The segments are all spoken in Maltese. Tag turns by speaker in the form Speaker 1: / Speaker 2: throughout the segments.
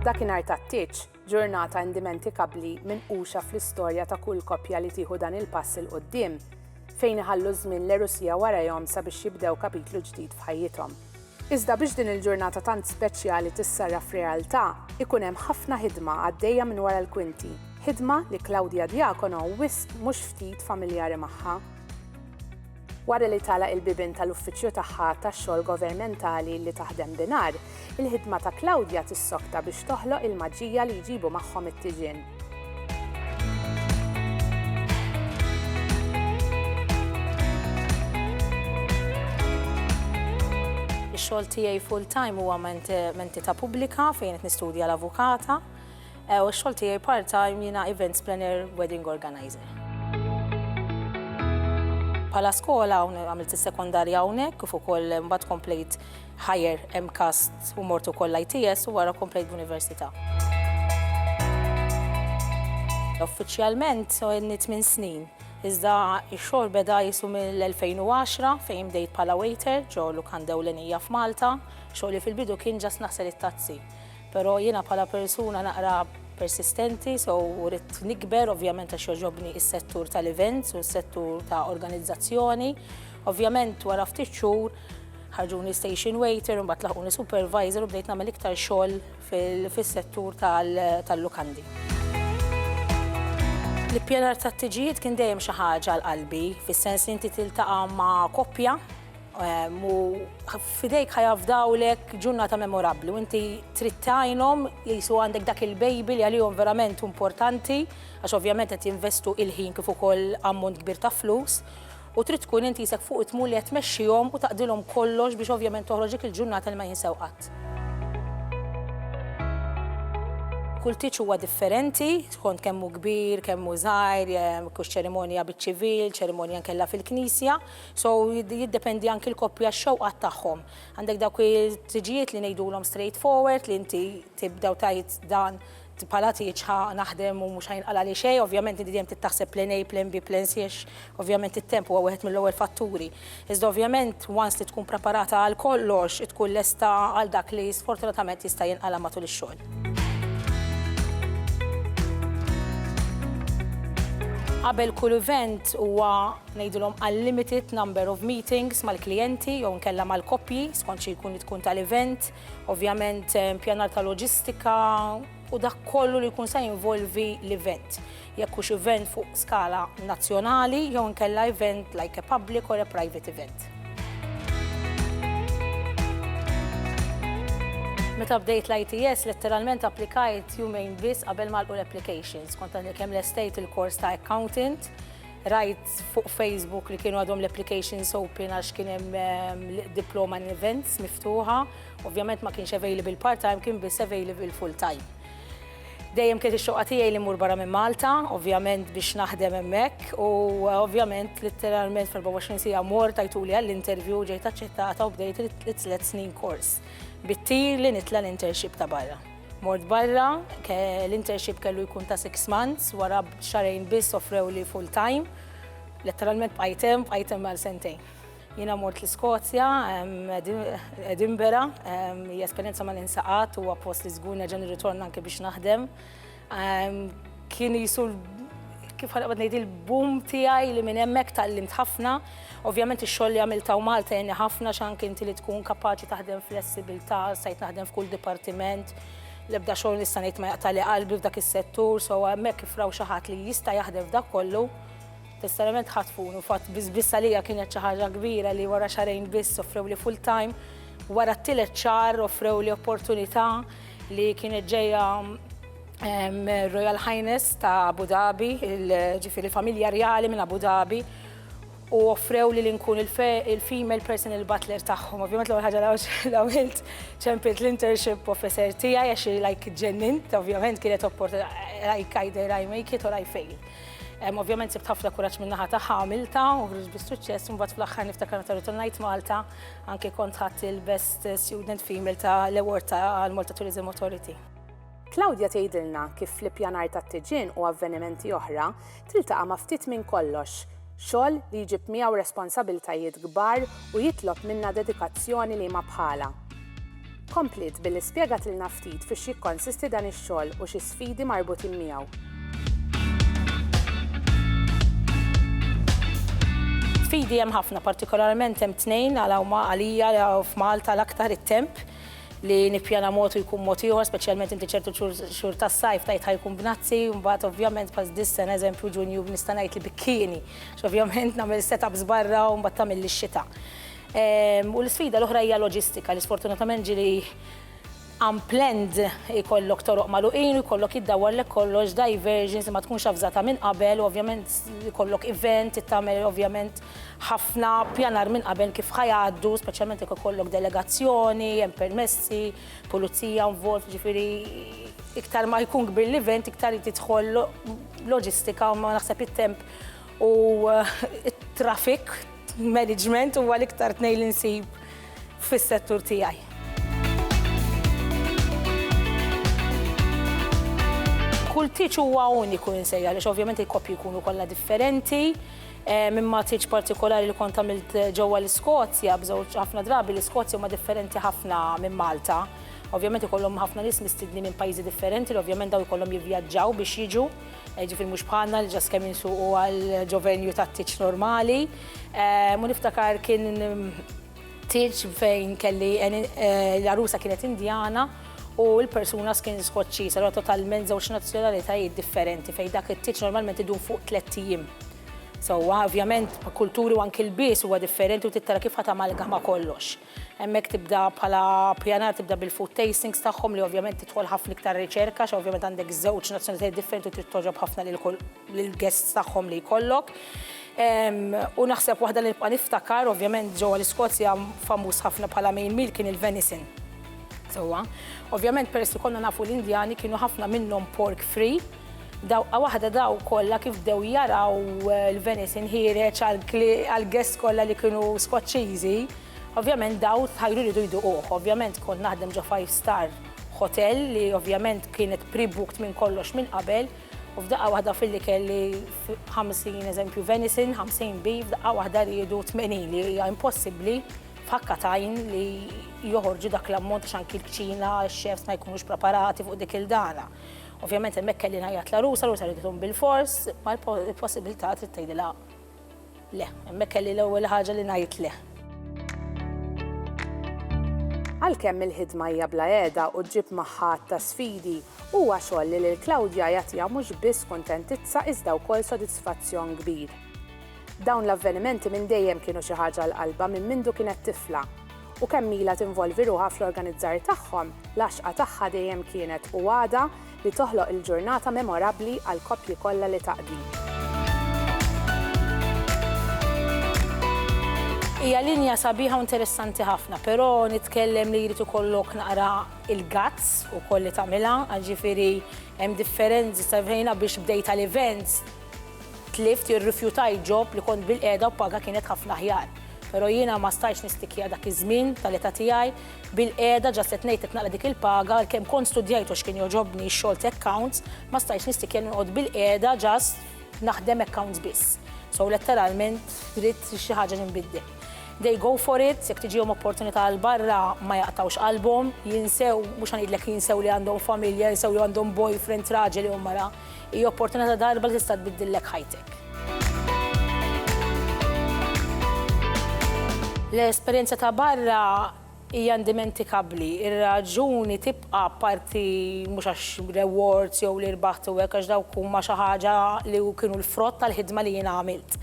Speaker 1: Dakinhar tat-tieġ, ġurnata indimentikabbli minquxa fl-istorja ta' kull koppja li tieħu dan il-pass 'il quddiem, fejn iħallu ż-żmien l-għerusija warajhom sabiex jibdew kapitlu ġdid f'ħajjithom. Iżda biex din il-ġurnata tant speċjali tissarraf f'realtà, ikun hemm ħafna ħidma għaddejja minn wara l-kwinti, ħidma li Claudia Diacono wisq mhux ftit familjari magħha. Wara li tagħlaq il-bibien tal-uffiċċju tagħha tax-xogħol govermentali li taħdem binhar, il-ħidma ta' Claudia tissokta biex toħloq il-maġija li jġibu magħhom it-tiġien.
Speaker 2: Ix-xogħol tiegħi full-time huwa m'entità pubblika fejn qed nistudja l-avukata. Eh, u xol tijaj part-time jina events planner, wedding organizer. Pala skola għamilt il-sekondarja għawnek, kif ukoll mbagħad komplejt higher MCAST u mortu koll ITS u wara komplejt b'università. Uffiċjalment għenni 8 snin, iżda x-xogħol beda jisu mill-2010 fejn bdejt pala waiter ġo lukanda ewlenija f'Malta, xogħli fil-bidu kien ġas naħsel it-tazzi. Pero jiena bħala persuna naqra persistenti so u ridt nikber ovvjament għax jogħġobni is-settur tal-events u s-settur ta' organizzazzjoni. Ovvjament wara ftit xhur ħarġuni station waiter, mbagħad laħquni supervisor u bdejt nagħmel iktar xogħol fis-settur tal-lukandi. L-ippjanar tat-tiġijiet kien dejjem xi ħaġa għal qalbi, fis-sens li inti tiltaqa' ma' koppja, u f'idejk ħajafdawlek ġurnata memorabbli u inti trid tgħinhom jisu għandek dak il-baby li għalihom verament importanti għax ovvjament qed jinvestu il-ħin kif ukoll ammont kbir ta' flus u trid tkun inti jisek fuq it-tmun li qed tmexxihom u taqdilhom kollox biex ovvjament toħroġ dik il-ġurnata li ma jinsew qatt. Kull tieġ huwa differenti skont kemm hu kbir, kemm hu żgħir, jekk hux ċerimonja biċ-ċivil, ċerimonja nkella fil-knisja, So jiddependi anki l-koppja x-xewqat tagħhom. Għandek dawk it-tiġijiet li ngħidulhom straight forward li inti tibda u tgħid dan bħala tieġ ħa naħdem u mhux ħajnqala li xejn, ovvjament inti dejjem trid taħseb plan A, plan B, plan C għax ovvjament it-temp huwa wieħed mill-ewwel fatturi. Iżda ovvjament once li tkun preparata għal kollox, tkun lesta għal dak li sfortunatament jista' jinqala' matul ix-xogħol. Qabel kull event huwa ngħidulhom għal limited number of meetings mal-klijenti jew inkella mal-koppji skont xi jkun li tkun tal-event, ovvjament pjanar ta' loġistika u dak kollu li jkun se jinvolvi l-event. Jekk hux event fuq skala nazzjonali jew inkella event like a public or a private event. Meta bdejt l-ITS letteralment applikajt jumejn biss qabel ma għalqu l-applications. Kont għadni kemm lestejt il-kors ta' accountant, Rajt fuq Facebook li kienu għadhom l-applications open għax kien hemm ehm, diploma in events miftuħa. Ovvjament ma kienx available part-time, kien biss available full-time. Dejjem kien ix-xoqa tiegħi li mmur barra minn Malta, ovvjament biex naħdem hemmhekk u eh, ovvjament litteralment fil-24 sija mor tajtuli għall-interview ġejt aċċettata u bdejt it-tliet snin kors bit-tir li nitla l-internship ta' barra. Mort barra, l-internship kellu jkun ta' six months, wara xarejn biss offrewli full time. Letteralment bqajt hemm, bqajt hemm għal sentejn. Jiena mort l-Iskozja, Edinbera, hija esperjenza ma ninsa qatt, huwa post li żgur nerġa' nirritorna anke biex naħdem. Kien qisu kif ħa noqgħod ngħid il-boom tiegħi li minn hemmhekk tgħallimt ħafna. Ovvjament ix-xogħol li għamilt hawn Malta għenni ħafna għax anke inti li tkun kapaċi taħdem flessibilità, stajt naħdem f'kull dipartiment, l-ebda xogħol nista' ngħid ma jaqtagħli qalbi f'dak is-settur, so hemmhekk kif raw xi ħadd li jista' jaħdem f'dak kollu, sinċerament ħatfuni u fatt biss biss għalija kienet xi ħaġa kbira li wara xahrejn biss offrewli full time, wara t-tielet xahar offrewli opportunità li kienet ġejja mir-Royal Highness ta' Abu Dhabi, ġifieri l-familja rjali minn Abu Dhabi, u offrewli li nkun il-female personal butler tagħhom. Ovvjament l-ewwel ħaġa li għamilt ċempilt l-internship officer tiegħi għax like ġennint, ovvjament kienet opportunità like either I make it or I fail. Ovvjament sibt ħafna kuraġġ min-naħa tagħha għamilta u ħriġ bis-suċċess u mbagħad fl-aħħar niftakar meta rrid ngħid Malta anke kont ħadt il-Best Student Female ta' l-award ta' l-Malta Tourism Authority. Claudia
Speaker 1: tgħidilna kif fl-ippjanar tat-tiġin u avvenimenti oħra tiltaqa' ma' ftit minn kollox, xogħol li jġib miegħu responsabiltajiet kbar u jitlob minnha dedikazzjoni li ma bħalha. Kompliet billi spjegatilna ftit fiex jikkonsisti dan ix-xogħol u xi sfidi marbutin miegħu.
Speaker 2: Sfidi hemm ħafna, partikolarment hemm tnejn għal huma għalija f'Malta l-aktar it-temp, li nippjana mod u jkun mod ieħor, speċjalment inti ċertu xhur tas-sajf tajt ħajkun b'nazzi, mbagħad ovvjament bħal dis-sena eżempju Ġunju nista' ngħid li bikkieni, x'ovvjament nagħmel set-ups barra u mbagħad tagħmilli x-xita. U l-isfida l-oħra hija loġistika li sfortunatament ġieli unplanned, ikollok toroq magħluqin u jkollok jiddawwarlek kollox, diversions li ma tkunx avżata minn qabel u ovvjament ikollok event, trid tagħmel ovvjament ħafna pjanar minn qabel kif ħa jgħaddu, speċjalment jekk ikollok delegazzjoni, hemm permessi, pulizija involved, ġifieri iktar ma jkun kbir l-event, iktar tidħol loġistika u ma naħseb it-temp u it-traffic management huwa l-iktar tnejn li nsib fis-settur tiegħi. Kull tiċ huwa uniku insejja, għaliex ovvjament il-koppji jkunu kollha differenti, Minn matriċ partikolari li kont għamilt ġewwa l-Iskozja, b'żewġ ħafna drabi l-Iskozja huma differenti ħafna minn Malta. Ovvjament ikollhom ħafna nies mistidnin minn pajjiżi differenti li ovvjament dawn ikollhom jivvjaġġaw biex jiġu, jiġifieri mhux bħalna li ġast kemm insuqu għal ġo-venue tat-tieġ normali. U niftakar kien Tieġ fejn kelli l-għarusa kienet Indjana u l-personas kien Skoċċiż, allura totalment żewġ nazzjonalitajiet differenti fejn dak it-tieġ normalment idum fuq tlett ijiem. Sewwa, ovvjament, kulturi u anki lbies huwa differenti u trid tara kif ħadd amalgama kollox. Hemmhekk tibda bħala pjanar tibda bil-food tastings tagħhom li ovvjament tidħol ħafna iktar riċerka għax ovvjament għandek żewġ nazzjonalitajiet differenti u trid togħġob ħafna lil kull lill-guests tagħhom li jkollok. U naħseb waħda li nibqa' niftakar, ovvjament ġewwa l-Iskozja famuż ħafna bħala main meal kien il-venison. Sewwa. Ovvjament peress li konna nafu l-Indjani kienu ħafna minnhom pork free, dawqa waħda daw kollha kif bdew jaraw eh, l-venison ħiereġ għall-guests kollha li kienu Skoċċiżi, ovvjament daw tħajru ridu jduquh. Ovvjament kont naħdem ġo five star hotel li ovvjament kienet pre-booked minn kollox minn qabel, U f'daqqa waħda filli kelli 50 eżempju venison, 50 bi, f'daqqa waħda riedu 80 li hija impossibbli f'ħakka tajn li joħorġu dak l-ammont għax anki l-kċina, x-chefs ma jkunux preparati fuq dik il-dana. Ovvjament hemmhekk kelli ngħajjat la rusa, rusa riedu bil-fors, ma l-possibilità trid tgħidilha Le, hemmhekk kelli l-ewwel ħaġa li ngħid le.
Speaker 1: Għalkemm il-ħidma hija bla qiegħda u ġġib magħha għadd ta' sfidi, huwa xogħol li lil Claudia jagħtiha mhux biss kuntentizza iżda wkoll sodisfazzjon kbir. Dawn l-avvenimenti minn dejjem kienu xi ħaġa għal qalbha minn mindu kienet tifla, u kemm ilha tinvolvi ruħha fl-organizzar tagħhom, l-għaxqa tagħha dejjem kienet u għadha li toħloq il-ġurnata memorabbli għall-koppji kollha li taqdi.
Speaker 2: Hija linja sabiħa u interessanti ħafna, però nitkellem li jrid ikollok naqra il-guts ukoll li tagħmilha, għax ġifieri hemm differenzi sa fejn biex bdejt għal events tlift jew rrifjutajt ġob li kont bil-qiegħda u paga kienet ħafna aħjar. Però jiena ma stajtx nistikja dak iż-żmien tal-età tiegħi, Bilqiegħda, ġast qed ngħid qed naqra dik il-paga, għalkemm kont studjajt għax kien jogħġobni x-xogħol ta' accounts, ma stajtx nistikjer li noqgħod bilqiegħda ġast naħdem accounts biss. So letteralment ridt xi ħaġa li nbiddel. They go for it, jekk tiġihom opportunità għal barra ma jaqtgħux qalbhom, jinsew, mhux ħa ngħidlek jinsew li għandhom familja, jinsew li għandhom boyfriend, raġel jew mara. Hi opportunità ta' darba li tista' tbiddillek ħajtek. L-esperjenza ta' barra hija indimentikabbli. Ir-raġuni tibqa' apparti mhux għax rewards jew li rbaħt u hekk għax dawk huma xi ħaġa li kienu l-frott tal-ħidma li jiena għamilt.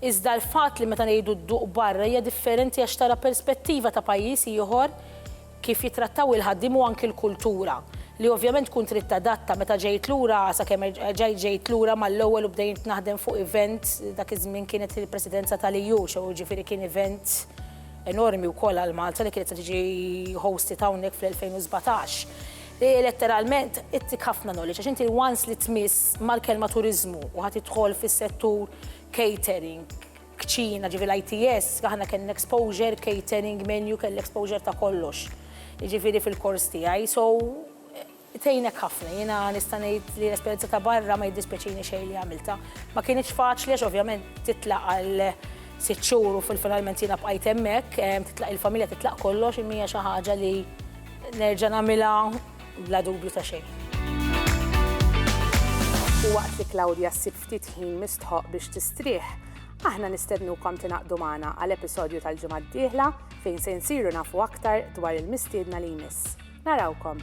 Speaker 2: Iżda l-fatt li meta ngħidu dduq barra hija differenti għax tara perspettiva ta' pajjiż ieħor, kif jittrattaw il-ħaddiem u anki l-kultura li ovvjament tkun trid tadatta meta ġejt lura sakemm erġajt ġejt lura mal-ewwel u bdejt naħdem fuq event dak iż-żmien kienet il-presidenza tal-EU so jiġifieri kien event enormi wkoll għal Malta li kienet se tiġi hosted hawnhekk fl-2017 li letteralment ittik ħafna knowledge għax inti once li tmiss mal-kelma turiżmu u ħa tidħol fis-settur catering kċina, ġifi l-ITS, aħna kellna exposure, catering, menu, kelli exposure ta' kollox. Ġifiri fil-kors tiegħi, so tejnek ħafna, jiena nista' ngħid li l-esperjenza ta' barra ma jiddispjaċini xejn li għamilta. Ma kienx faċli għax ovvjament titlaq għal sitt xhur u fil-finalment jiena bqajt hemmhekk, titlaq il-familja, titlaq kollox, imma hija xi ħaġa li nerġa' nagħmilha bla dubju ta' xejn. U waqt
Speaker 1: li Claudia ssib ftit ħin mistħoqq biex tistrieħ, aħna nistednukom tingħaqdu magħna għal episodju tal-ġimgħa d-dieħla fejn se nsiru nafu aktar dwar il-mistiedna li jmiss. Narawkom!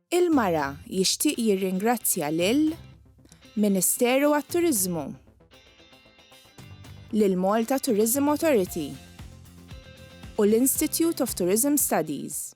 Speaker 3: Il-Mara jixtieq jirringrazzja lil Ministeru għat-Turiżmu, lill-Malta Tourism Authority u l-Institute of Tourism Studies.